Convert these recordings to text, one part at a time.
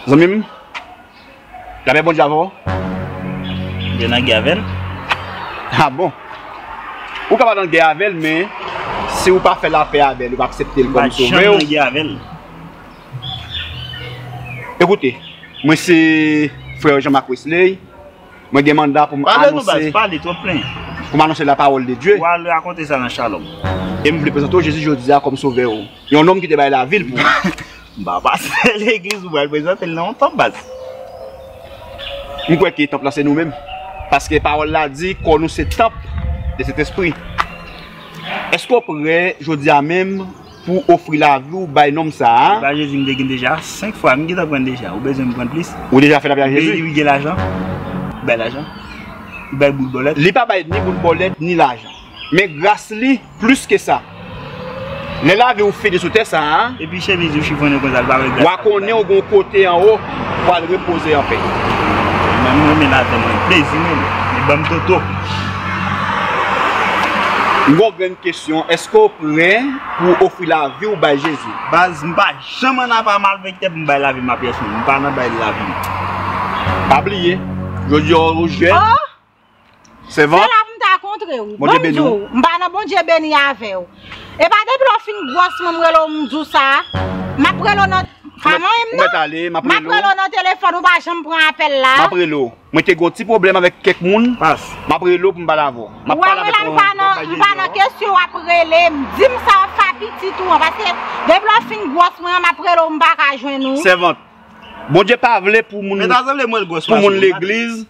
Zanmi m, lapè Bondye avè w. Bondye nan gè avè l. A bon! Ou ka pa nan gè avè l men, si ou pa fè lapè avè l, ou pa aksepte l kòm sovè w. Ou pa janm nan gè avè l. Ekoute, mwen se frè Jean Marc Wesley, mwen gen manda pou m anonse la pawòl de Dye, e m vle prezante w Jezi jodi a kòm sovè ou, yon nonm ki te bay lavi l pou ou. M kwè ke tanp lan se nou menm, paske pawòl la di kò nou se tanp de Sentespri. Èske w prè jodi a menm? Pou w ofri lavi w bay nonm sa a. Epa Jezi m te gin deja 5 fwa m gintan pran deja ou bezwen m pran plis. Ou deja fè lapriyè Jezi. Beli wi gen lajan li bay lajan li bay boul bòlèt. Li pa bay ni boul bòlèt ni lajan men gras li plis ke sa lè lavi w fini sou tè sa a. Epi chemiz ou chifonnen konsa l pa wè gras la. Wa konnen w gon kote anwo. pwal repoze anpè. Mwen renmen ladann mwen plezi mwen li banm toto. Gro grenn kesyon eske ou prè pou ou ofri lavi ou bay jezi. Baz m pa janm an apa malfektè pou m bay lavim a pèsonn m pa nan bay lavim. Pa bliye jodi a ou jèn Sevant. Se la pou m ta kontre ou. Bondye beni w. Bonjou. M pa nan Bondye beni avè w. E pa depi lè w fin gwòs mwen m rele w m di w sa. M ap rele w nan. Pa manyen m non. Ou mèt ale. M ap rele w. M ap rele w nan telefòn ou pa janm pran apèl la. M ap rele w. Mwen te gen yon ti pwoblèm avèk kèk moun. Pas. M ap rele w pou m pale avè w. M ap pale avè w. Ou wè m la m pa nan kesyon w ap rele m. Di m sa w ap fè a pitit ou an. Paske depi lè w fin gwòs mwen an m ap rele w m pa ka jwenn ou. Sevant. Bondye pa vle pou moun. Mèt ale mwen gwòs. Pou moun legliz.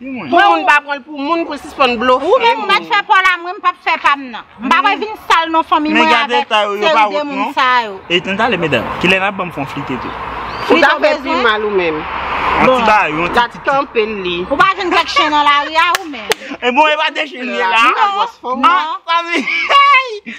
Pou moun pa pranl pou moun poul sispann blofe moun. Ou menm ou mèt fè paw la mwen m pap fè pam nan. M pa wè vin sal non fanmi mwen avèk seri de moun sa yo. E tan tale medam, kilè nap banm fon flite tou. Ou ta fè pi mal ou menm. Yon ti bagay, yon ti ti. Gad kanpel li. Ou pa jwenn kèk chen nan lari a ou menm. E bon e pa 2 chen li la. Li pa gwòs fanm nan. An fanmi hey.